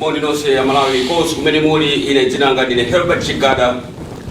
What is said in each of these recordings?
moni nonse amalawi konse kumene muli ine dzina langa ndine herbert chigada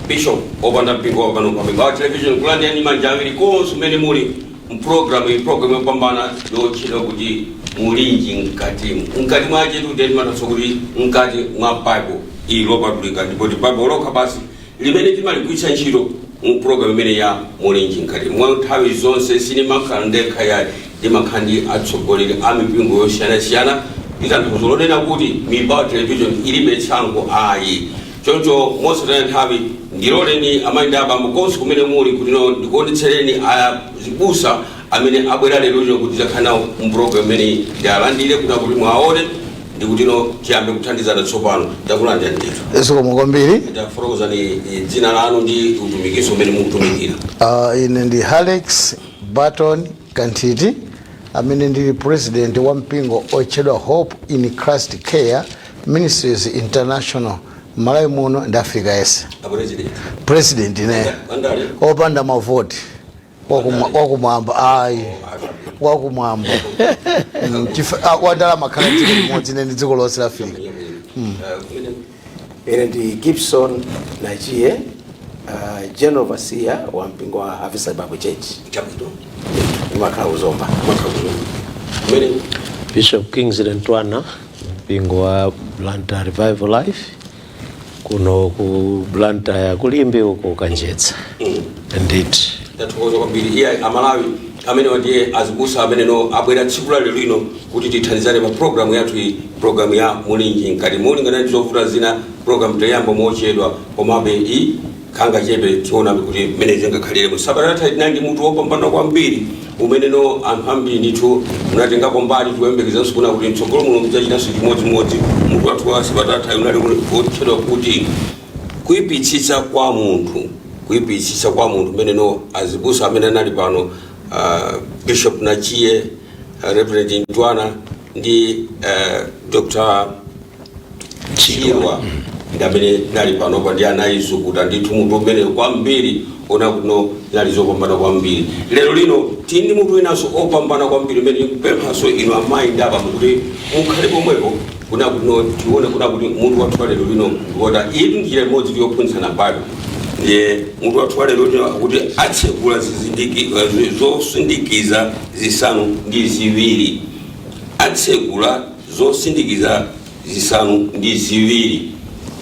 bishop opanda mpingo wa pano pa mingawa television kulandirani manja awiri konse kumene muli mprogramu iyi programu yopambana yotchedwa kuti mulinji mkatimu mkati mwache tione ndi maso kuti mkati mwa bible ili lopatulika ndipotu bible lokha basi limene timaligwiritsa ntchito mu program imene ya mulinji mkatimu mwa nthawi zonse sinimakhala ndekha yayi ndimakhala ndi atsogoleri a mipingo yosiyanasiyana ndi tanthauzo lonena kuti mibawa television ilibe tsankho ayi choncho mosataya nthawi ndiloleni amayi ndi abambo konse kumene muli kuti no ndikuonetsereni azibusa amene abwera lero lino kuti adzakhale nawo mu program imeneyi ndialandire kuti akuti mwaone ndi kutino tiyambe kuthandizana tsopano takulandira ndithu zikomo kwambiri tafotokozani eh, dzina lanu ndi utumikiso umene mukutumikira uh, ine ndi alex barton kanthiti amene ndili president wa mpingo otchedwa hope in christ care ministries international malawi muno ndi africa yonse apresident president ineyo andale opanda mavoti Wakuma- wakumwamba ayi wakumwamba Mm, chifa- ah, odala mumakhala dziko limodzi ine ndi dziko lonse la afrika ine ndi gibson nachiye uh, general overseer wa mpingo wa harvester bible church ndimakhala ku zomba Bishop Kingsley Ntwana, mpingo wa Blantyre Revival Life. kuno ku blantyre ku limbe uko kanjedza ndithu ndathokoza kwambiri iye amalawi amenewa ndiye azibusa ameneno abwera tsiku la lero lino kuti tithandizane pa programu yathu iyi programu ya mulinji mkatimu molingana ndi zovuta zina programu tayamba mochedwa komabe iyi Kangachepe tionabe kuti mmene zingakhalire. Mu sabata yatha tinali ndi mutu wopambana kwambiri umeneno anthu ambiri ndithu munatengapo mbali tikuyembekezanso kunena kuti mtsogolo muno mudzachitanso chimodzimodzi. Mutu wathu wa sabata yathayi unali wotchedwa kuti kuipitsitsa kwa munthu kuipitsitsa kwa munthu mmeneno azibusa amene anali pano ah, bishop nachiye ah, reverend ntwana ndi ah, dr Chirwa ndi amene anali panopa ndi anauzukuta ndithu mutu umenewu kwambiri moona kuti zinali zopambana kwambiri lero lino tili ndi mutu winanso opambana kwambiri umene tikupemphanso inu amayi ndi abambo kuti mukhale pomwepo kunena kutino tione kunena kuti mutu wathu wa lero lino ndi wotani iyi ndi njira imodzi yophunzitsana bible ndiye mutu wathu wa lero lino akuti atsekula zizindiki- eh, zosindikiza zisanu ndi ziwiri atsekula zosindikiza zisanu ndi ziwiri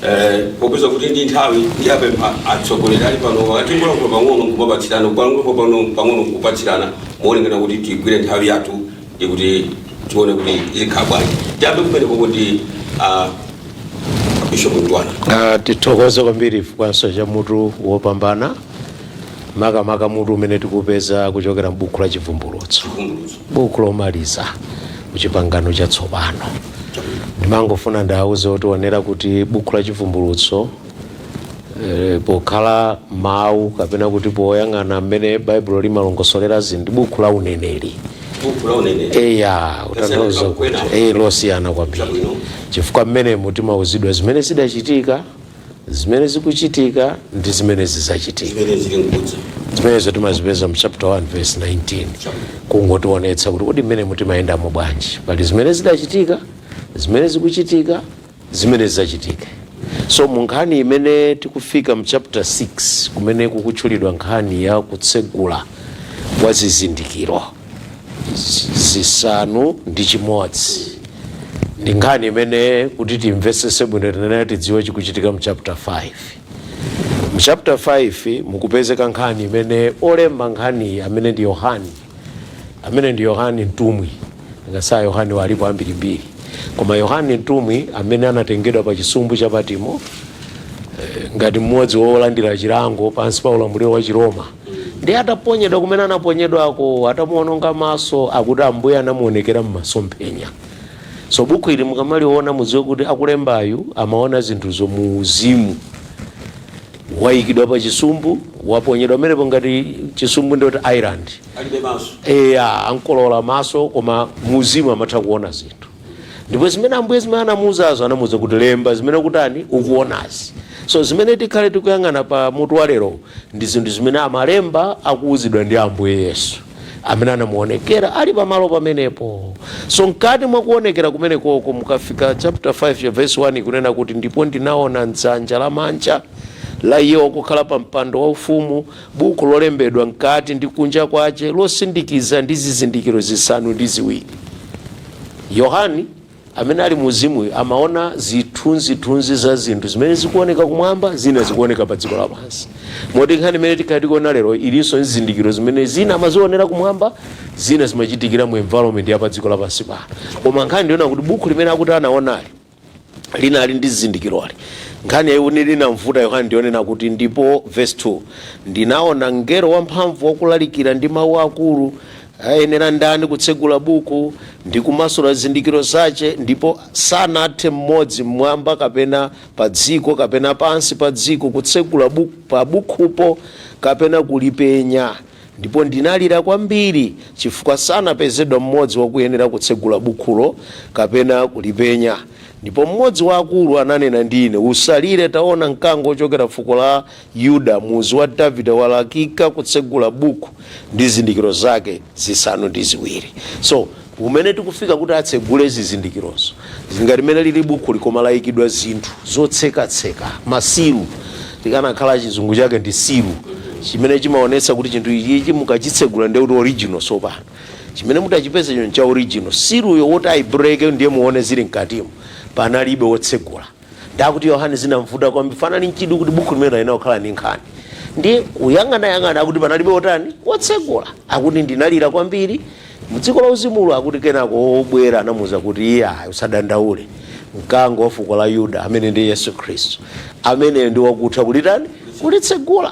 eh, popeza kuti ndi nthawi ndi apempha atsogoleri ali pano tingolankhula pang'ono kumapatsirana kulankhula pano pang'ono kupatsirana molingana kuti tigwire nthawi yathu ndi kuti tione kuti zikhala bwanji tiyambe kumenekoko ndi ah, bishop mtwana Ah, tithokoze kwambiri chifukwanso cha mutu wopambana makamaka mutu umene tikupeza kuchokera m'buku la chivumbulutso buku lomaliza kuchipangano chatsopano ndimangofuna ndiwauze otionera kuti buku la chivumbulutso eh, pokhala mawu kapena kuti poyang'ana mmene baibulo limalongosolera zinthu ndi buku la uneneri buku la uneneri eya utanthauza kuti Kwena. eh, losiyana kwambiri Chabwino. chifukwa mmenemo timauzidwa zimene zidachitika zimene zikuchitika ndi zimene zidzachitika zimene zili nkudza zimenezo timazipeza mu chapter 1 verse 19 kungotionetsa kuti kodi mmene mutimayendamo bwanji pali zimene zidachitika zimene zikuchitika zimene zidzachitike so mu nkhani imene tikufika mu chapter 6 kumene kukutchulidwa nkhani ya kutsegula kwa zizindikiro zisanu ndi chimodzi ndi nkhani imene kuti timvesese bwino tinene tidziwe chikuchitika mu chapter 5 mu chapter 5 mukupezeka nkhani imene olemba nkhaniyi amene ndi yohani amene ndi yohani mtumwi ngasaa yohani alipo ambirimbiri koma yohani mtumwi amene anatengedwa pa chisumbu cha patimo eh, ngati mmodzi wolandira chilango pansi pa ulamuliro wa chiroma ndiye ataponyedwa kumene anaponyedwako atamuononga maso akuti ambuye anamuonekera m'masomphenya so buku ili mukamaliona mudziwe kuti akulembayu amaona zinthu za mu uzimu wayikidwa pa chisumbu waponyedwa pamenepo ngati chisumbu ndiye kuti island alibe maso eya anamkolowola maso koma mu uzimu amatha kuona zinthu ndipo zimene ambuye zimene anamuuzazo anamuuza kuti lemba zimene kutani ukuonazi so zimene tikhale tikuyang'ana pa mutu wa lero ndi zinthu zimene amalemba akuuzidwa ndi ambuye yesu amene anamuonekera ali pamalo pamenepo so mkati mwa kuonekera kumenekoko mukafika chapter 5 ya verse 1 ikunena kuti ndipo ndinaona mdzanja lamanja la iye wakukhala pa mpando wa ufumu Buku lolembedwa mkati ndi kunja kwace, losindikiza ndi zizindikiro zisanu ndi ziwiri. Yohani, amene ali mu Uzimuyo, amaona zithunzi-thunzi za zinthu zimene zikuoneka kumwamba, zina zikuoneka pa dziko lapansi. Moti nkhani imene tikhala tikuona lero ilinso ndi zizindikiro zimene zina amazionera kumwamba, zina zimachitikira mu environment ya pa dziko lapansi pano. Koma nkhani ndi yonena kuti buku limene akuti anaonali, linali ndi zizindikiroli. Nkhani yaikulu inamvuta Yohane ndi yonena kuti, Ndipo, vesi 2, ndinaona mngelo wamphamvu wakulalikira ndi mau akuru, Ayenera ndani kutsegula buku, ndi kumasula zizindikiro zace? Ndipo sanathe mmodzi m'mwamba kapena padziko kapena pansi pa dziko kutsegula buk pabukhupo kapena kulipenya. Ndipo ndinalira kwambiri chifukwa sanapezedwa mmodzi wakuyenera kutsegula bukhulo kapena kulipenya. Ndipo mmodzi wa akulu ananena ndi ine, Usalire, taona, Mkango wochokera fuko la Yuda, Muzu wa Davide, walakika kutsegula bukhu ndi zizindikiro zake zisanu ndi ziwiri. Kumene tikufika kuti atsegule zizindikirozo zili ngati mmene lili bukhuli koma lalikidwa zinthu zotsekatseka, masilu tikanakhala chizungu chake ndi silu, chimene chimaonetsa kuti chinthu ichichi mukachitsegula ndiye kuti original tsopano. Chimene mutachipezecho ncha original. Siluyo woti aibreake ndiye muone zili mkatimo panalibe wotsegula. ndi akuti yohane zinamvuta kwambiri fanali n'chidwi kuti bukhu limene linakukhala ndi nkhani ndiye kuyang'anayang'ana akuti panalibe otani wotsegula akuti ndinalira kwambiri mdziko la uzimulo akuti kenako wobwera anamuuza kuti iye ayi usadandaule mkango wa fuko la yuda amene ndi yesu khristu ameneyo ndi wakutha kulitani kulitsegula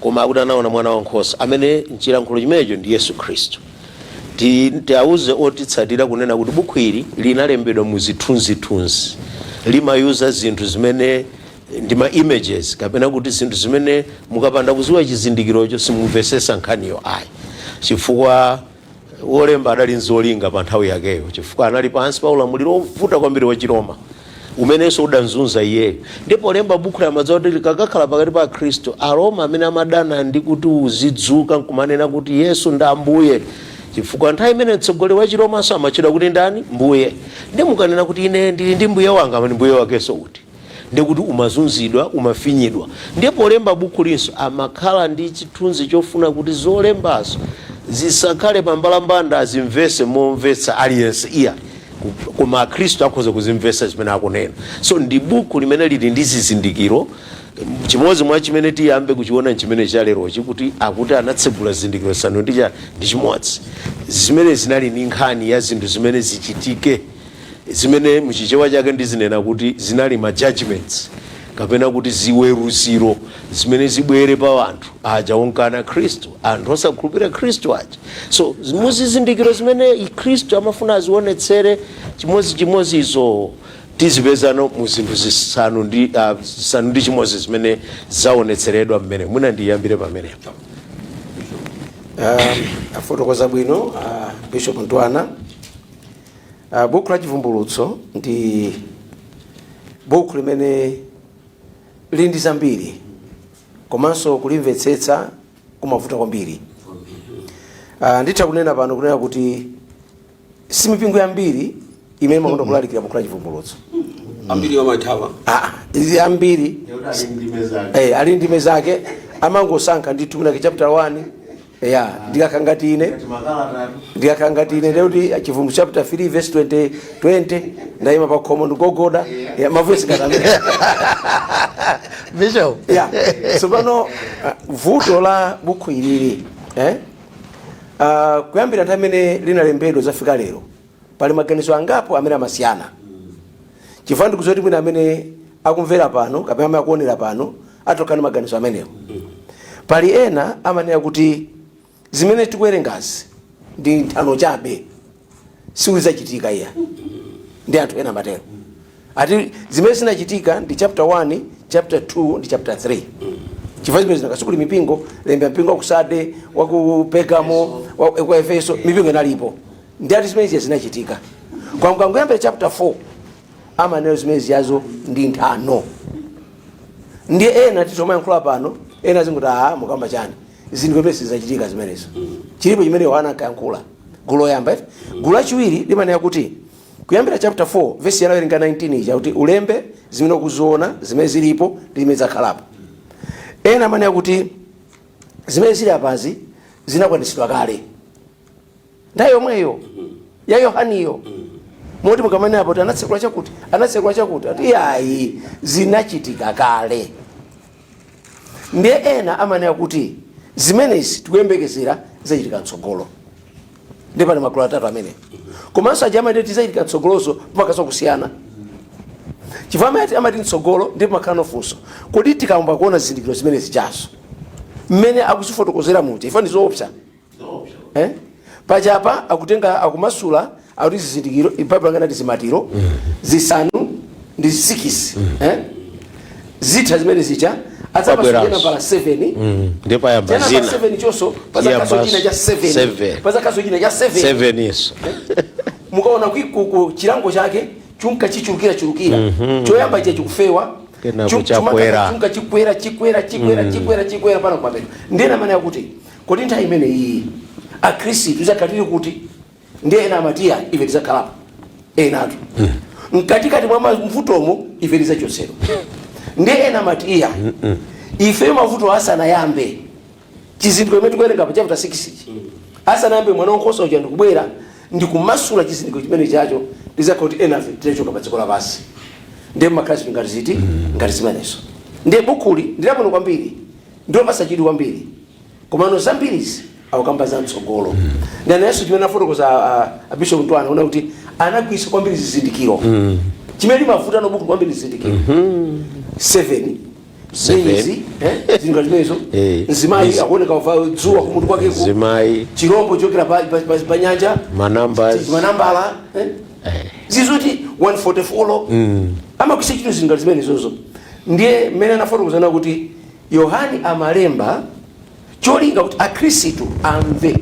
Koma akuti anaona Mwanawankhosa, amene m'chilankhulo chimenecho ndi Yesu Kristu. Tiauze otitsatira kunena kuti bukhu ili linalembedwa mu zithunzithunzi. Limayuza zinthu zimene ndi ma images kapena kuti zinthu zimene mukapanda kuziwa chizindikirocho simumvesesa nkhaniyo ayi chifukwa Wolemba adali n'zolinga panthawi yakeyo chifukwa anali pansi pa ulamuliro wovuta kwambiri wachiroma, umenenso udam'zunza iyeyo. Ndiye polemba bukuli amadziwa kuti likakakhala pakati pa Akristu, Aroma amene amadana ndi kuti uzidzuka n'kumanena kuti Yesu ndi Ambuye, chifukwa nthawi imeneyo mtsogoleri wachiromanso amatchedwa kuti ndani? Mbuye. Ndiye mukanena kuti, Ine ndili ndi mbuye wanga, amati, Mbuye wakenso uti? ndiye kuti umazunzidwa, umafinyidwa. Ndiye polemba bukhulinso amakhala ndi chithunzi chofuna kuti zolembazo zisakhale pambalambanda, azimvetse momvetsa aliyense iya ku- koma akhristu akhoza kuzimvetsa zimene akunena. So ndi bukhu limene lili ndi zizindikiro chimodzi mwa chimene tiyambe kuchiona nchimene chalerochi kuti akuti anatsegula zizindikiro zisanu ndi chani ndi chimodzi zimene zinali ndi nkhani ya zinthu zimene zichitike zimene mu Chichewa chake ndizinena kuti zinali ma judgments kapena kuti ziweruziro zimene zibwere pa anthu aja onkana Khristu, anthu osakhulupirira Khristu aja. So muzizindikiro zimene Khristu amafuna azionetsere chimodzichimodzizo tizipezano mu zinthu zisanu ndi ah, zisanu ndi chimodzi zimene zaonetseredwa mmene mwina ndiyambire pamenepo. afotokoza bwino ah, bishop ntwana Uh, buku la Chivumbulutso ndi buku limene lili ndi zambiri komanso kulimvetsetsa kumavuta kwambiri. Uh, nditha kunena pano kunena kuti si mipingo yambiri imene imakonda kulalikira buku la Chivumbulutso. ambiri amathawa Ah, ndiye ambiri eh, ali ndime zake amangosankha ndithu kwinakwake chapter 1 ya ndikakhala ngati ine ndikakhala ngati ine ndekuti chivumbulutso chapter 3 verse 20 20 ndayima pa khomo ndikugogoda ya mavesi akatere bishop ya tsopano uh, vuto la bukhu ilili eh? uh, kuyambira nthawi imene linalembedwa kuzafika lero pali maganizo angapo amene amasiyana chifukwa ndikudziwa kuti mwina amene akumvera pano kapena amene akuonera pano athokhala ndi maganizo amenewo pali ena amanena kuti zimene tikuwerengazi ndi nthano chabe sikuti zizachitika iyayi ndiye anthu ena amatero ati zimene zinachitika ndi chapter 1 chapter 2 ndi chapter 3 chifukwa zimene zinakhudza mipingo lembera mpingo wa ku Sarde wa ku pergamo wa ku efeso mipingo inalipo ndiye ati zimene zija zinachitika koma mukangoyambira chapter 4 amanena zimene zijazo ndi nthano ndiye ena titomayankhula pano ena azinena kuti aha mukamba chani zinthu zimene sizizachitika zimenezo chilipo chimene yohana ankayankhula gulu loyamba eti gulu lachiwiri limanena kuti Kuyambira chaputa 4 vesi ya tawerenga 19 ija kuti ulembe zimene ukuziona, zimene zilipo ndi zimene zizakhalapo. Ena amanena kuti zimene zili apazi zinakwanisidwa kale nthawi yomweyo ya Yohaniyo moti mukamanena apo kuti anatsekula chakuti anatsekula chakuti ati iyayi zinachitika kale. Ndiye ena amanena kuti zimenezi tikuyembekezera zizachitika mtsogolo. ndiye pali magulu atatu amene komanso aja amati zizachitika mtsogoloso pamakhalaso kusiyana chifukwa amati amati mtsogolo ndiye pamakhalano funso kodi tikayamba kuona zizindikiro zimene zijazo mmene akuzifotokozera muja ife ndi zoopsa eh? paja apa akutenga akumasula akuti zizindikiro Baibulo akuti ndi zimatiro zisanu ndi sikisi eh? zikatha zimene zija adzapasa Wabweranso. china nambala 7 ndiye payamba china nambala zina 7 chonso pazakhalaso Yabas- china cha 7 seven. pazakhalaso china cha 7 seven iso mukaona kuti ku- ku chilango chake chunka chichulukira chulukira choyamba icho chikufewa Kenako chu- chakwera. chumaka chunka chikwera chikwera chikwera chikwera chikwera mpaka kumapeto ndiye ena amene akuti kodi nthawi imene iyi akhristu azakhala ali kuti ndi ena amati iya ife tizakhalapo enatu mkatikati mwa mavutomo ife tizachosedwa ndi ena amati iya ife mavuto asanayambe chizindikiro chimene tikuwerenga pa chapter 6 ichi asanayambe mwana wankhosa uja ndikubwera ndikumasula chizindikiro chimene chacho ndizakhala kuti enafe tinachoka pa dziko lapansi ndiye akhristu ngati ziti ngati zimenezo ndiye bukuli ndilabwino kwambiri ndilopasa chidwi kwambiri Komano zambiri izi akukamba za mtsogolo mm. ndiye nayenso chimene afotokoza a Bishop Mtwana ona kuti anagwiritsa kwambiri zizindikiro mm. chimene limavuta nalo buku kwambiri zizindikiro mm -hmm. 7 seals eh, zinga zimenezo eh, nzimayi akuoneka wavala dzuwa kumutu kwake nzimayi chirombo chochokera pa, pa, pa, pa nyanja manambala manambala eh? eh. zizoti 144 mm. amakwisa chino zinga zimenezozo ndiye mmene anafotokoza kuti Yohane amalemba cholinga kuti akhristu amve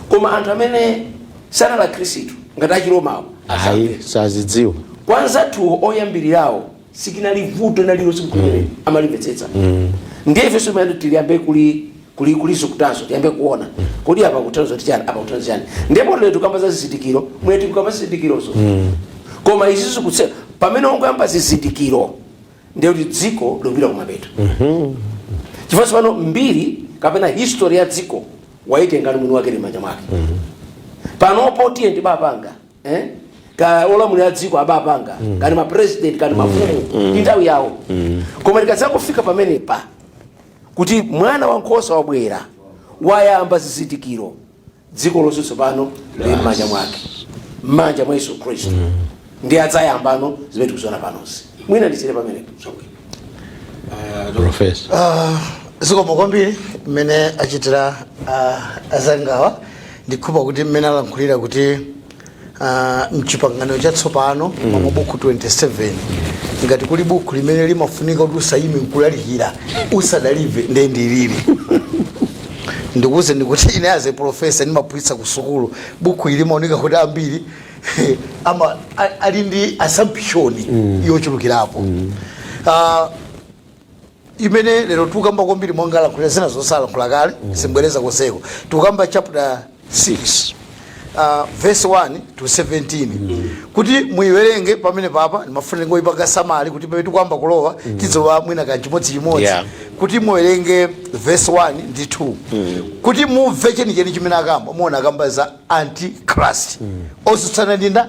koma anthu amene sanali akhristu ngati achiromawo ayi asamve asazidziwe kwa anzathuwo oyambirirawo sikinali vuto nlililonse nkumene amalimvetsetsa ndiye ifenso mmene tiliyambe kuli kuli kulizukutazo tiyambe kuona kodi apa akutanthauza kuti chani apa akutanthauza chani ndipo lero tikamba za zizindikiro mmene tikukamba zizindikirozo koma izi zikutse pamene angoyamba zizindikiro ndiye kuti dziko likupita kumapeto chifukwa tsopano mbiri kapena history ya dziko waitenga ndi mwini wake ili mmanja mwake panopo tiyeni tibapanga eh? ka olamulira a dziko abapanga kani mapresident kani mafumu ndi nthawi yawo koma tikadzafika pamenepa kuti mwana wa nkhosa wabwera wayamba zizindikiro dziko lonse tsopano lili m'manja mwake m'manja mwa yesu khristu ndiye adzayambano zimene tikuziona panozi mwina ndisiyire pamenepo zabwino profesa zikomo kwambiri mmene achitira ah, azangawa ndikukhulupira kuti mmene alankhulira kuti Ah, mchipangano chatsopano mwa mabuku 27 ngati kuli buku limene limafunika kuti usayime nkulalikira usadalimve ndiye ndilili ndikuuzeni kuti ine as a professor ndimaphunzitsa ku sukulu buku ili limaoneka kuti ambiri ama a- ali ndi assumption yochulukirapo Ah, imene lero tikukamba kwambiri monga alankhulira zinazo alankhula kale sindibwereza konseko tikukamba chapter 6 Uh, verse 1 to 17 kuti muiwerenge pamenepapa ndimafuna ndingoipanga summary kuti pamene tikuyamba kulowa tidziwe mwina kanthu chimodzichimodzi Yeah. kuti muwerenge verse 1 ndi 2 kuti mumve chenicheni chimene akamba muona akamba za antichrist osutsana ndinda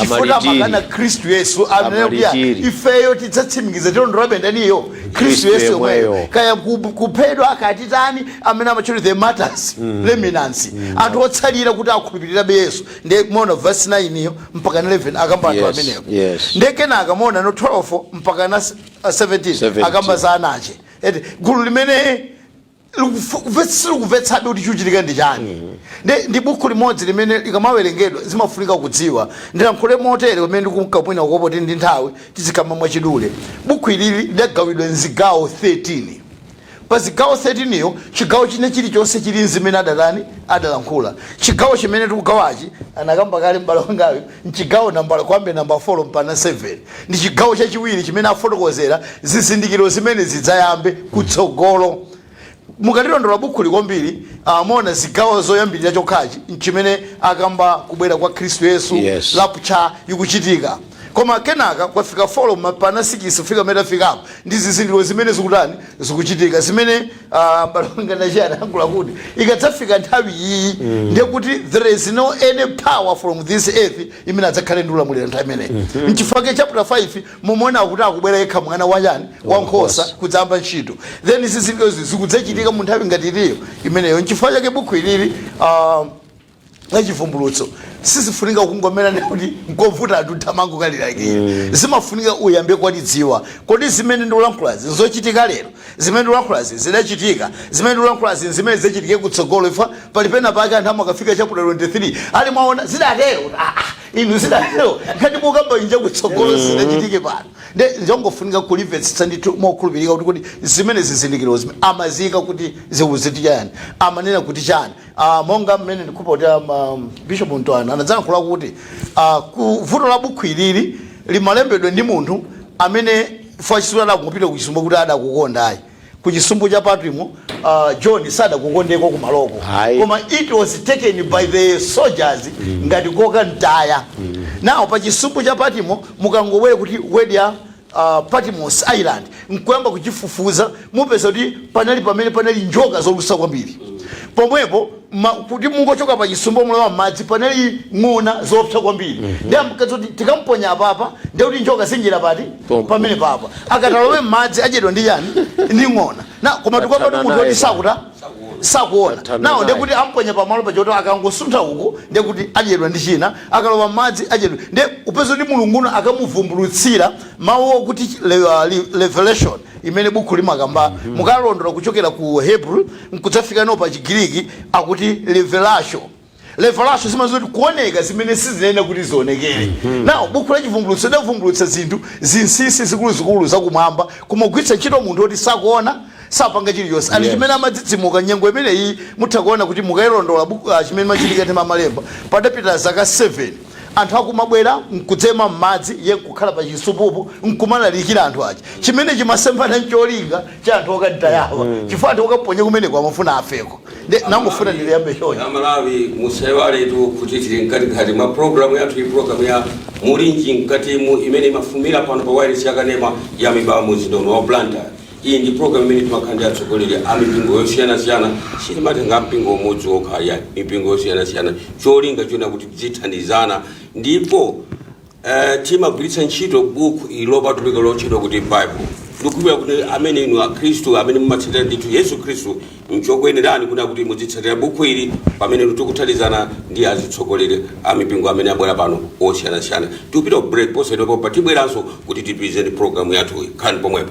chifukwa Amalitiri. amakana Khristu yesu ananena kuti Amalitiri. ifeyo tidzatsimikiza tilondolabe ndaniyo Khristu yesu yemweyo. kaya ku- kuphedwa akatitani amene amatchula the martyrs remnants anthu otsalira kuti akhulupirirabe yesu ndiye muona vesi 9 iyo mpaka 11 akamba anthu Yes, amenewo yes. ndiye kenaka muona no 12 mpaka na s- 17 17. akamba za nacheti gulu limene likufo- kuve- silikuvetsabe kuti chikuchitika ndi chani ndi, ndi buku limodzi limene likamawerengedwa zimafunika kudziwa ndilankhule motere pamene ndikumkapwina kukopo tili ndi nthawi tizikamba mwachidule buku ilili lidagawidwa mzigawo 13 pa zigawo 13 iyo chigawo chine chilichonse chili nzimene adatani adalankhula chigawo chimene tikugawachi anakamba kale m'bale wangayo M'chigawo nambala, kuyambira nambala 4 mpaka 7, ndi chigawo chachiwiri chimene afotokozera zizindikiro zimene zidzayambe kutsogolo. Mukalilondola bukhuli kwambiri, ah, muona zigawo zoyambirira chokhachi chimene akamba kubwera kwa Khristu Yesu, Yes. rapture ikuchitika. Koma kenaka kwafika 4 mpaka 6 kufika pamene tafikapo ndi zizindikiro zimene zikutani zikuchitika zimene Ah, balongana chiyankhulo kuti ikadzafika nthawi iyi ndiye kuti there is no any power from this earth imene adzakhale ndi ulamuliro nthawi imeneyi mchifake chapter 5 mumaona kuti akubwera yekha mwana wachani wankhosa kudzayamba ntchito then zizindikiro zikudzachitika mu nthawi ngati iliyo imeneyo nchifukwa chake bukhu ilili ah, la chivumbulutso sizifunika kungomera ndekuti nkovuta anthu atha kumangolilakwira zimafunika uyambe kulidziwa kodi zimene ndikulankhulazi nzochitika lero zimene ndikulankhulazi zidachitika zimene ndikulankhulazi zimene zichitike kutsogolo ifa pali pena pake anthu amakafika chapter 23 ali mwaona zidatero Ah, ah, inu zidatero ngati mukamba inja kutsogolo zidachitike pano nde njongofunika kulimvetsetsa ndithu mokhulupirika kuti kodi zimene zizindikiro zimene amaziyika kuti zikuchitika yani amanena kuti chani Uh, monga mmene ndikupota um, bishop mtwana anadzalankhula kuti uh, ku vuto la bukhu ilili limalembedwa ndi munthu amene fwachisula adakupita ku chisumbu kuti adakukonda ayi ku chisumbu cha patimo uh, john sadakukondeko kumaloko Ayi. koma it was taken by the soldiers ngati kukamtaya nawo pa chisumbu cha patimo mukangobwere kuti word ya a Patmos Island n'kuyamba kuchifufuza, mupeza kuti panali pamene panali njoka zolusa kwambiri. Pomwepo ma, kuti mungochoka pa chisumbu mulowa m'madzi panali ng'ona zoopsa kwambiri. Mm -hmm. Ndiye amkadziwa kuti tikamponya apapa ndiye kuti njoka zinjira pati pamenepa akati alowe m'madzi adyedwa ndi yani ndi ng'ona ah koma tikwapatu munthu woti sakuta sakuona Atame nawo naye. ndekuti amponya pamalo poti akangosuntha uku ndekuti adyedwa ndi china akalowa mmadzi adyedwa nde upeza kuti mulungu uno akamuvumbulutsira mawu akuti le- uh, li- revelation imene buku limakamba mukalondola kuchokera ku hebrew nkudzafika no pa chigiriki akuti revelation revelation zimaziwika kuti kuoneka zimene sizinali kuti zionekere nawo buku la chivumbulutso lidavumbulutsa zinthu zinsinsi zikuluzikulu zakumwamba kumagwiritsa ntchito munthu woti sakuona sapanga chilichonse ali Yes. chimene amadzidzimuka nyengo imeneyi mutha kuona kuti mukayilondola buku ah, chimene machitika ndi mamalemba padapita zaka 7 anthu akumabwera nkudzema m'madzi ye nkukhala pa chisupupo nkumalalikira anthu aja chimene chimasemphana ncholinga cha anthu okaditayawa chifukwa anthu okaponya kumeneko amafuna afeko Nde nangofuna ndiliyambe choncho. Ya Malawi musaiwaletu kuti tili mkatikati mwa program yathu iyi program ya mulinji mkatimo imene imafumira pano pa wayilesi ya kanema ya mibawa mu mzinda uno wa Blantyre. Iyi ndi program imene timakhala ndi atsogoleri a mipingo yosiyanasiyana sitimatenga mpingo umodzi wokha ayi mipingo yosiyanasiyana cholinga chonena kuti tidzithandizana ndipo Eh, timagwiritsa ntchito buku ili lopatulika lotchedwa kuti bible ndikukhulupirira kuti amene inu akhristu amene mumatsatira ndithu yesu khristu nchokuyenerani kunena kuti muzitsatira buku ili pamene inu tikuthandizana ndi azitsogoleri a mipingo amene abwera pano osiyanasiyana tikupita ku break posachedwapa tibweranso kuti tipitirize ndi programu yathu khalani pomwepo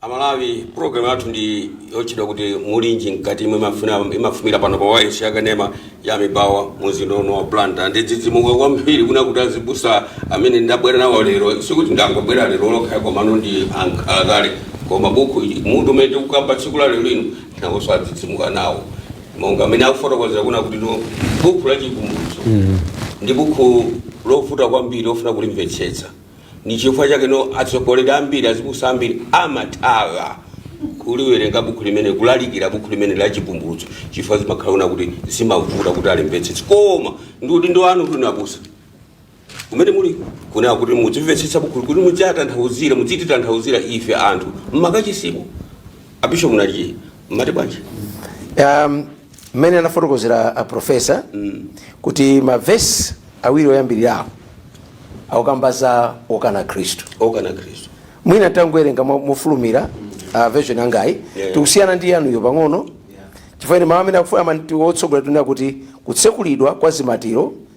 amalawi program yathu ndi yotchedwa kuti mulinji mkatimo imene imafuna- imafumira pano pa wayilesi yakanema ya mibawa mu mzinda uno wa Blantyre ndadzidzimuka kwambiri kunena kuti azibusa amene ndabwera nawo lero sikuti ndangobwera lero lokha komano ndi ankhalakale koma buku ili mutu umene tikukamba tsiku la lero lino nawonso adzidzimuka nawo monga amene akufotokozera kunena kuti no buku la chivumbulutso ndi buku lovuta kwambiri pofuna kulimvetsetsa ndi chifukwa chake no atsogoleri ambiri azibusa ambiri amathawa kuliwerenga buku limeneli kulalikira buku limeneli la chivumbulutso chifukwa zimakhala kunena kuti zimavuta kuti alimvetsetse koma ndi udindo wanu inu abusa kumene muli kunena kuti mudzimvetsetsa buku kuti mudzatanthauzira mudzititanthauzira ife anthu mmakachisimu a bishop munaliye mmati bwanji um, mmene anafotokozera a profesa kuti mavesi awiri oyambirirawo akukamba za okana khristu okana khristu mwina tangowerenga mo- mofulumira version yangayi Yeah. ikusiyana ndi yanuyo pang'ono chifukwa ine mawu amene akufuna amati otsogola tunena kuti kutsekulidwa kwa zimatiro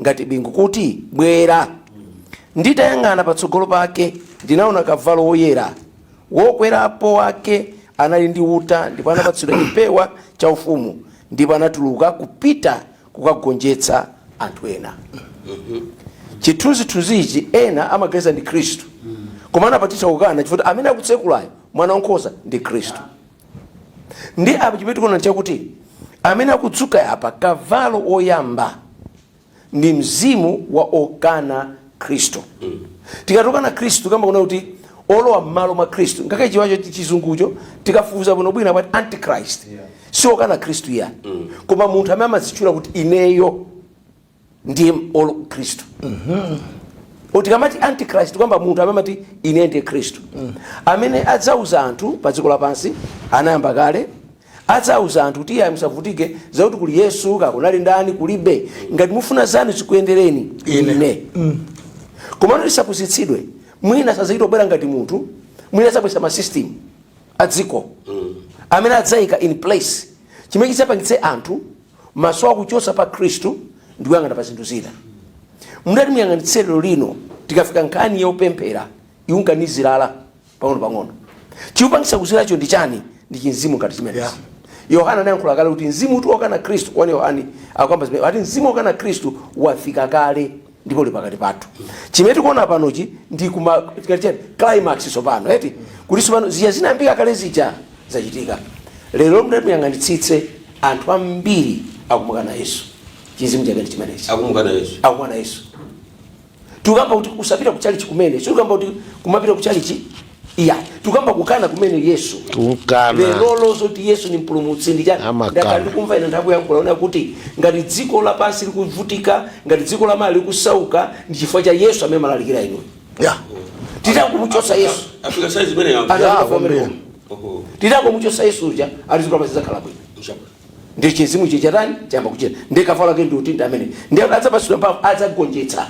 ngati bingu kuti, Bwera! Nditayang'ana patsogolo pake, ndinaona kavalo woyera. Wokwerapo wake anali ndi uta ndipo anapatsidwa chipewa chaufumu, ndipo anatuluka kupita kukagonjetsa anthu ena. Chithunzithunzichi ena amaganiza ndi Khristu, koma anafatitsa kukana chifukwa amene akutsekulayo, Mwana Wankhosa, ndi Khristu. ndi apa chimene tikuona chakuti amene akudzuka apa kavalo woyamba ndi mzimu wa okana khristu tikati okana khristu tikamba kunena kuti olowa m'malo mwa khristu ngakhale chiwacho chizungucho tikafufuza bwinobwino amati antichrist si okana khristu iyayi koma munthu amene amazitchula kuti ineyo ndiye olo khristu tikamati antichrist tikamba munthu amene amati ine ndiye khristu amene adzauza anthu pa dziko lapansi anayamba kale adzauza anthu kuti iyayi musavutike zakuti kuli yesu kaya kunali ndani kulibe ngati mufuna zanu zikuyendereni Ine. ine komano tisapusitsidwe mwina sazachita kubwera ngati munthu mwina adzabweretsa ma system a dziko amene adzayika in place chimene chidzapangitse anthu maso akuchosa pa khristu ndikuyang'ana pa zinthu zina mutati muyang'anitse lero lino tikafika nkhani yopemphera ikunka nizirala pang'ono pang'ono chikupangisa kuziralacho ndi chani ndi chimzimu ngati chimenechi Yeah. yohana anayankhula kale kuti mzimu uti wokana khristu 1 yohani akukamba zimenezi ati mzimu wokana khristu wafika kale ndipo uli pakati pathu chimene tikuona panochi ndi kumati kuti chani climax tsopano eti kuti tsopano zija zinayambika kale zija zachitika lero mutati muyang'anitsitse anthu ambiri akumukana yesu chimzimu chake ndi chimenechi akumukana yesu akumukana yesu tikukamba kuti kusapita ku chalichi kumene sitikukamba kuti kumapita ku chalichi iyayi tukamba kukana kumene yesu Kukana. lerolo zoti yesu ni mpulumutsi ndi chani Amakana. ndakhala ndikumva ine anthu ayankhula kunena kuti ngati dziko lapansi likuvutika ngati dziko la malawi likusauka ndi chifukwa cha yesu amene mumalalikira inuyo titangomuchosa yesu afika saizi imeneyo Ana- ya kwambiri titangomuchosa yesu uja ali dziko lapansi lizakhala bwino Mshaka. ndiye chimzimu icho chatani chayamba kuchita ndiye kavalo ake ndi uti ndi amene ndiye kuti adzapatsidwa mphamvu adzagonjetsa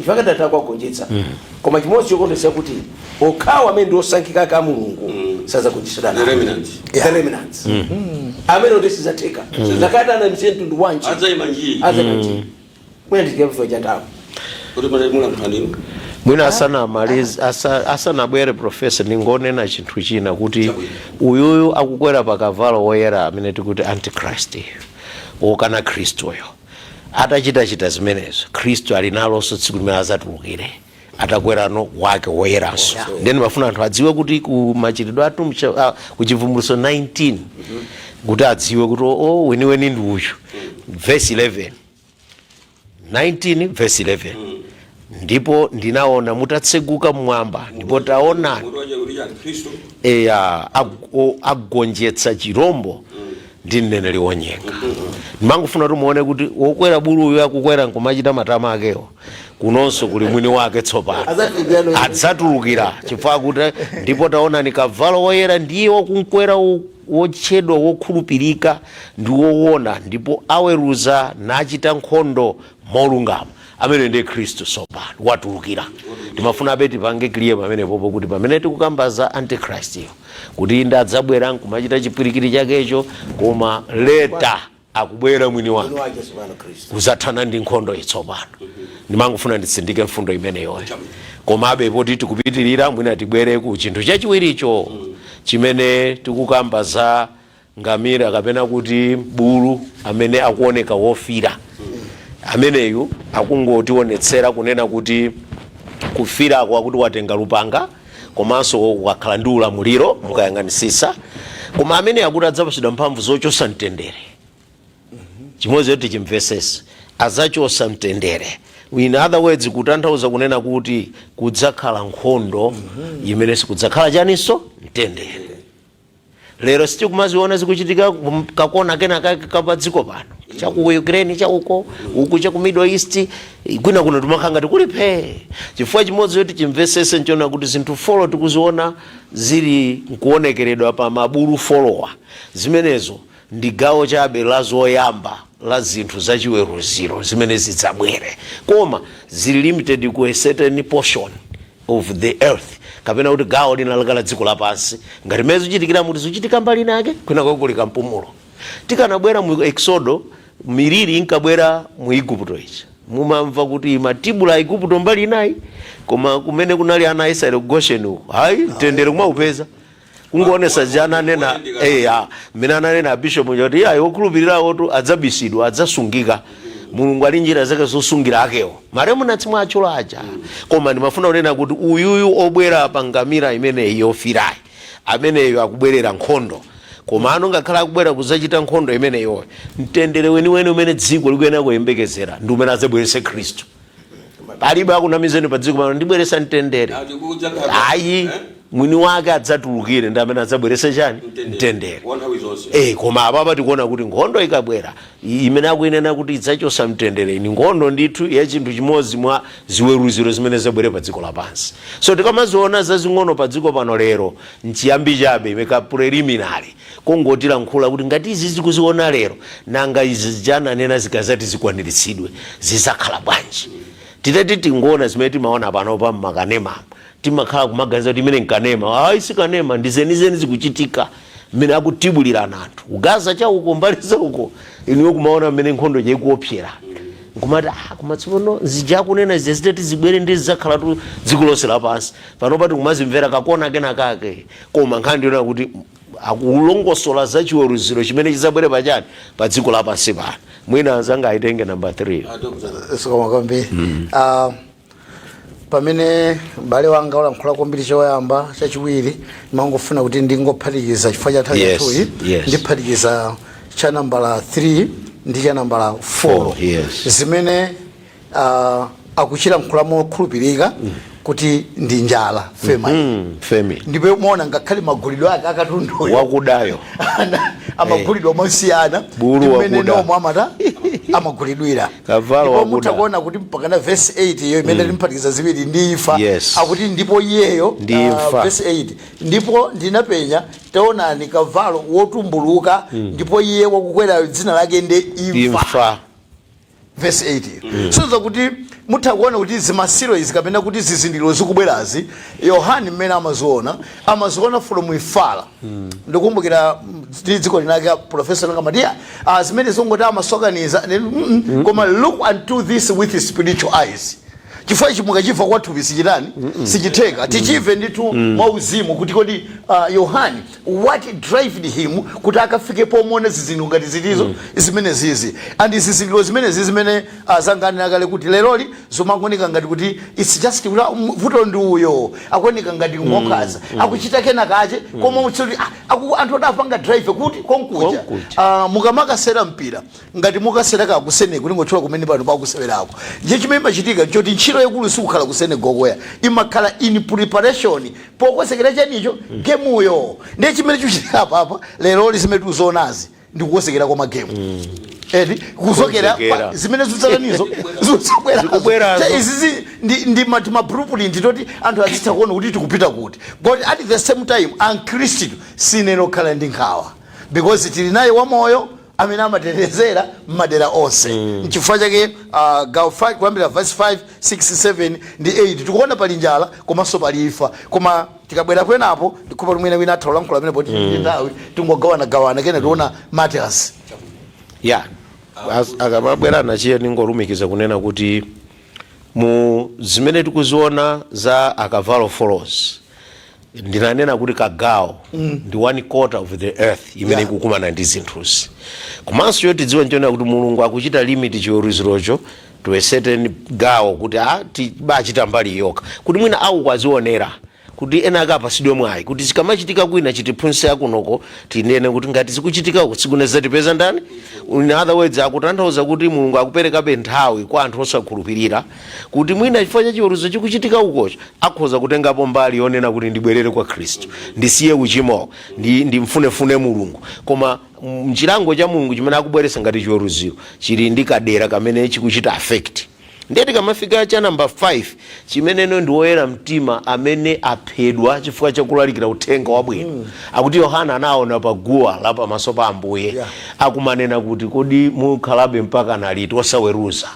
ife akadatha kuwagonjetsa koma chimodzi chokondweretsa kuti okhawo amene ndi osankhika ake a mulungu sadzagonjetsedwa The nawo. remnant. The remnant. amene kuti sizatheka zakati anamisiye mtundu wanji Adzaima njii. adzaima njii mwina ndiziya kuziwa chatawo kuti pamene mulankhulaniwo mwina asanamalize asa- asanabwere profesa ndingonena chinthu china kuti uyuyu akukwera pa kavalo woyera amene tikuti antichrist wokana khristuyo atachitachita zimenezo khristu ali nalonso tsiku limene azatulukire atakwerano wake woyeranso ndiye ndimafuna anthu adziwe kuti ku machitidwe athu mcha- ah, ku chivumbuluso 19 kuti adziwe kuti o weniweni ndi uyu verse 11 19 verse 11 ndipo ndinaona mutatseguka mmwamba ndipo taonani mutu wache kuti chani khristu eya ag- o- agonjetsa chirombo ndi mneneri wonyenga ndimangofuna kuti muone kuti wokwera buluyu akukwera nkumachita matama akewo kunonso kuli mwini wake tsopano adzatulukira chifukwa kuti ndipo taonani kavalo woyera ndiye wakumkwera wotchedwa wokhulupirika ndi wowona ndipo aweruza nachita nkhondo molungama amene ndi khristu tsopano watulukira timafuna abe tipange clear pamenepopo kuti pamene tikukamba za antichrist-yo kuti inde adzabwera nkumachita chipwirikiti chakecho koma later akubwera mwini wake kuzathana ndi nkhondoyi tsopano ndimangofuna nditsindike mfundo imeneyoyo koma abe poti tikupitirira mwina tibwere ku chinthu chachiwiricho chimene tikukamba za ngamira kapena kuti bulu amene akuoneka wofira ameneyu akungotionetsera kunena kuti kufirako akuti watenga lupanga komanso wakhala ndi ulamuliro mukayang'anisisa koma amene akuti adzapatsidwa mphamvu zochosa mtendere chimodzi choti chimvesese adzachosa mtendere in other words kutanthauza kunena kuti kudzakhala nkhondo imene sikudzakhala chaninso mtendere lero sitikumaziona zikuchitika kakona kena kake kapadziko pano chaku ukraine chauko uku chaku middle east kwina kuno timakhala ngati kuli phee chifukwa chimodzi choti chimvesese nchonena kuti zinthu four tikuziona zili nkuonekeredwa pa mabulu four-wa zimenezo ndi gawo chabe la zoyamba la zinthu zachiweruziro zimene zidzabwere koma zili limited ku a certain portion of the earth kapena kuti gawo linalake la dziko lapansi ngati mmene zikuchitikira muti zikuchitika mbali inake kwinako kuli kampumulo tikanabwera mu eksodo miliri inkabwera mu igupto ichi mumamva kuti yatibula a igupto mbali inayo koma kumene kunali ana a israeli ku gosheni uko ayi mtendere kumaupeza kungoonesa zija ananena eya mmene ananena abishop uja kuti ayi okhulupirirawo tu adzabisidwa adzasungika mulungu ali ndi njira zake zosungira akewo ma remnants omwe atchula aja koma ndimafuna kunena kuti uyuyu obwera pa ngamira imeneyi yofirayi ameneyo akubwerera nkhondo komano ngakhale akubwera kudzachita nkhondo imeneyoyo mtendere weniweni umene dziko likuyenera kuyembekezera ndi umene adzabweretse khristu palibe akunamizeni pa dziko pano ndibweresa mtendere Ati kudza kaka. ayi Eh? mwini wake adzatulukire ndi amene adzabwerese chani Mtendere. mtendere Wa nthawi zonse. Eh, koma apapa tikuona kuti nkhondo ikabwera imene akuinena kuti idzachosa mtendere ndi nkhondo ndithu ya chinthu chimodzi mwa ziweruziro zimene zidzabwere pa dziko lapansi so tikamaziona zazing'ono pa dziko pano lero nchiyambi chabe imakhala preliminary Kungotilankhula kuti ngati izi tikuziona lero nanga izi zija ananena zikazati zikwaniritsidwe zizakhala bwanji. Titati tingoona zimene timaona panopa mmakanemamu timakhala kumaganiza kuti imeneyi nkanema ayi sikanema ndi zenizeni zikuchitika mmene akutibulirana anthu ku Gaza chauko mbali zauko inuyo kumaona mmene nkhondo ija ikuopsera nkumati ah koma tsopano zija akunena zija zitati zibwere ndiye zizakhalatu dziko lonse lapansi. Panopa tikumazimvera kakona kenakake. koma nkhani ndiyonena kuti akulongosola za chiweruziro chimene chidzabwere pachani pa dziko lapansi pano mwina anzanga aitenge namba 3 zikomo kwambiri Ah, pamene m'bale wanga walankhula kwambiri choyamba chachiwiri ndimangofuna kuti ndingophatikiza chifukwa cha nthawi Yes, yathuyi yes. ndiphatikiza cha nambala 3 ndi cha nambala 4 Four, yes. zimene uh, akuchilankhula mokhulupirika kuti ndi njala famine mm -hmm. famine ndipo muona ngakhale magulidwe ake akatundu wakudayo amagulidwa eh. mosiyana umene nomwe amata amagulidwira ndipo mutha kuona kuti mpaka na verse 8 iyo imene mm. tikuphatikiza ziwiri ndi imfa yes. akuti ndipo iyeyo ndi ah, imfa uh, verse 8 ndipo ndinapenya taonani kavalo wotumbuluka mm. ndipo iye wakukwera dzina lake ndi imfa, imfa. vesi 8 so that kuti mutha kuona kuti ma seal izi kapena kuti zizindikiro zikubwerazi Yohani mmene amaziona amaziona from ifala ndikumbukira mm, ndi tsiku linalake profesa Langa Matiya ah, zimene zongoti amasokaniza ndi- mm, mm. koma look unto this with spiritual eyes chifukwa ichi mukachimva kwathupi sichitani sichitheka tichimve ndithu mwauzimu kuti kodi ah, Yohani what drived him kuti akafike pomuona zizindikiro ngati zitizo zimenezizi and zizindikiro zimenezi zimene azanga anena kale kuti leroli zomaoneka ngati kuti it's just kuti ah, m- vuto ndi uyo akuoneka ngati ngonkhanza akuchita kena kache koma utsoti anthu adapanga drive kuti konkuja Konkuja. Ah, mukamakasewera mpira Ngati mukasewera ku Senegal tingotchula kumene pano pakusewerako ndiye chimene imachitika ntchoti ntchito yaikulu siikhala ku Senegal ko ayi imakhala in preparation pokonzekera chanicho gemuyo ndiye chimene chikuchitika apapa leroli zimene tikuzionazi ndi kukonzekera kwa magemu eti kuzokera Kukonzekera. pa- zimene zudzatanizo zudzabwerazo Zikubwerazo. Cha- izizi ndi, ndi ma- ma blueprint oti anthu azitha kuona kuti tikupita kuti but at the same time akhristu sitiyenera kukhala ndi nkhawa because tili naye wamoyo amene amatitetezera m'madera onse nchifukwa chake ah, gawo 5 kuyambira verse 5 6 7 ndi 8 tikuona pali njala komanso pali imfa koma tikabwera penapo ndikupa mwina wina atha kulankhula pamenepo poti ndi nthawi tingogawanagawana kenaka tiona Matias ya As- akamabwera nacho iye ndingolumikiza kunena kuti mu zimene tikuziona za akavalo folowo ndinanena kuti kagawo mm. ndi one quarter of the earth imene yeah. ikukumana ndi zinthuzi komanso choti tidziwe nchonena kuti mulungu akuchita limit chiweruzirocho to a certain gawo kuti ah, bachita mbali yokha kuti mwina awo akazionera kuti ena akapasidwe mwayi kuti zikamachitika kwina chitiphunzitse akunoko tinene kuti ngati zikuchitika uko tsiku lina zizatipeza ndani in other words akutanthauza kuti mulungu akuperekabe nthawi kwa anthu osakhulupirira kuti mwina chifukwa cha chiweruzo chikuchitika ukocho akhoza kutengapo mbali yonena kuti ndibwerere kwa khristu ndisiye uchimo ndi, ndimfunefune mulungu koma mm, chilango cha mulungu chimene akubweretsa ngati chiweruziro chili ndi kadera kamene chikuchita affect ndiye tikamafika cha namba 5 chimeneno ndi woyera mtima amene aphedwa chifukwa chakulalikira uthenga wabwino mm. akuti yohana anaona pa guwa la pamaso pa ambuye Yeah. akumanena kuti kodi mukhalabe mpaka na liti osaweruza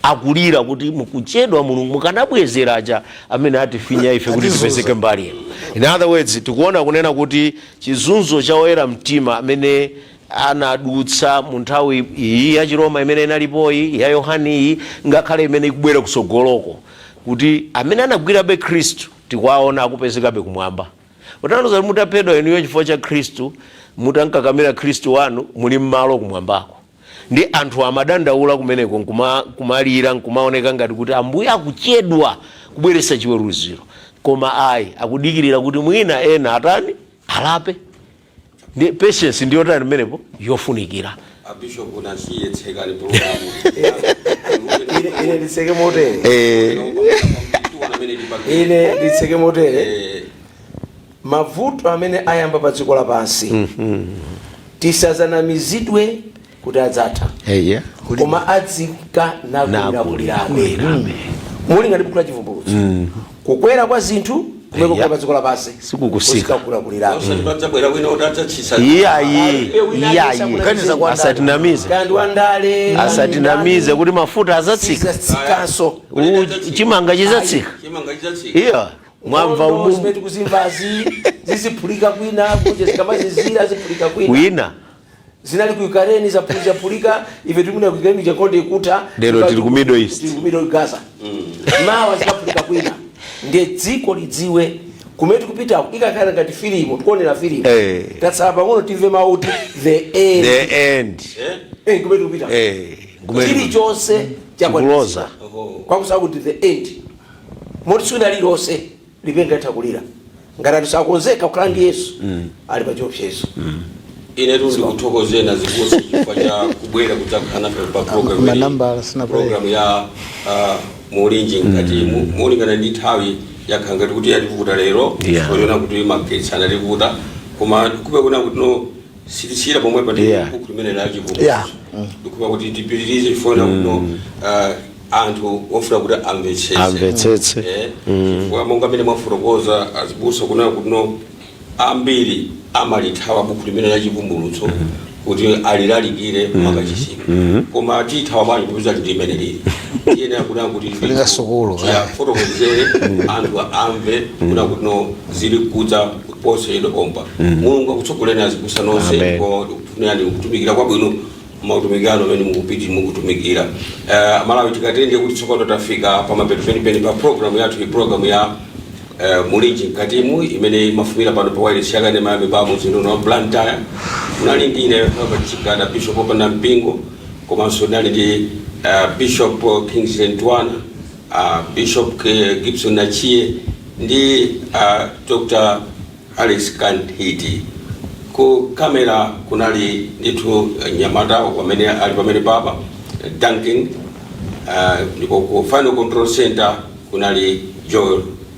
akulira kuti mukuchedwa mulungu mukanabwezera aja amene atifinya ife kuti Atizunza. tipezeke mbali ino in other words tikuona kunena kuti chizunzo cha oyera mtima amene anadutsa mu nthawi iyi ya chiroma imene inalipoyi ya yohani iyi ngakhale imene ikubwera kusogoloko kuti amene anagwirabe khristu tikuwaona akupezekabe kumwamba kutanthauza kuti mutaphedwa inuyo chifukwa cha khristu mutankakamira khristu wanu muli malo kumwambako Ndiye anthu amadandaula kumeneko nkumalira nkumaoneka ngati kuti Ambuye akuchedwa kubweretsa chiweruziro. Koma ayi, akudikirira kuti mwina ena atani? Alape. Ndiye patience ndi yotani pamenepo? Yofunikira. A Bishop Nasiye tsekani program. Ine ine nditseke motere. Eh. Tiona amene tipangire. Ine nditseke motere. Eh, mavuto amene ayamba pa dziko lapansi tisadanamizidwe kuti adzatha eya koma adzika nakulirakulirabe Nakulirabe. mulingana ndi buku la chivumbulutso kukwera kwa zinthu kumene kukwera pa dziko lapansi Sikutsika. kukulirakulirabe osati padzabwera wina kuti adzatsitsa iyayi iyayi Kuganiza kwa ndani? asatinamize kaya ndi wandale asatinamize kuti mafuta azatsika sizatsikanso U- chimanga chizatsika chimanga chidzatsika iya Mwamva Nkhondo umu- zimene tikuzimvazi ziziphulika kwina kunja zikamazizira aziphulika kwina kwina zinali ku Ukraine zaphulika phulika ife tikumaona ku Ukraine ija nkhondo ikutha Lero Ipa- tili ku Middle East. tili ku Middle East, Gaza mawa zikaphulika kwina ndiye dziko lidziwe kumene tikupita ikakhala ngati filimu tikuonera filimu Eh. tatsala pang'ono timve mawu kuti the end the end Eh, kumene tikupita eh kumene chilichonse chakwanitsidwa. chikuloza kwakuti the end moti tsiku lina lililonse lipenga litha kulira ngati anthu sanakonzeke kukhala ndi yesu ali pa chiopsezo inetu ndikuthokozeni azibusa chifukwa cha kubwera kudzakhala nafe pa program Ma- manambala sinabwere. program ya ah, Mulinji Mkatimu malingana ndi nthawi yakhala ngati kuti yativuta lero Yeah. poona kuti magetsi anativuta koma nkupeza kunena kuti no sitisiyira pomwepa ndi Yeah. buku limene la Yeah. chivumbulutso ndikupempha kuti tipitirize chifukwa kuno ah, anthu ofuna kuti amvetsetse Amvetsetse. Eh, chifukwa monga mmene mwafotokozera azibusa kunena kuti ambiri amalithawa buku limene la chivumbulutso kuti alilalikire m'makachisimu koma tithawa bwanji kupeza kuti imene lili tiyenera kunena kuti Lingasukulu, eh. fotokozere anthu amve kunena kuti zili kudza posachedwa pompa mulungu akutsogolereni azibusa nonse Amen. ko yani kutumikira kwabwino m'mautumiki anu amene mukupiti mukutumikira uh, malawi tikatere kuti tsopano tafika pamapeto penipeni pa programu yathu iyi programu ya uh, mulinji mkatimu imene imafumbira pano pa wailesi ya kanema ya Mibawa mumzinda uno wa blantyre unali ndi ine robert chigada bishop opanda mpingo komanso unali ndi uh, bishop kingsley ntwana a Bishop K. Gibson Nachie ndi a Dr. Alex Kanthiti. Ku kamera kunali ndithu mnyamata amene ali pamenepa pa Duncan, ah, ndipo ku final control center kunali Joel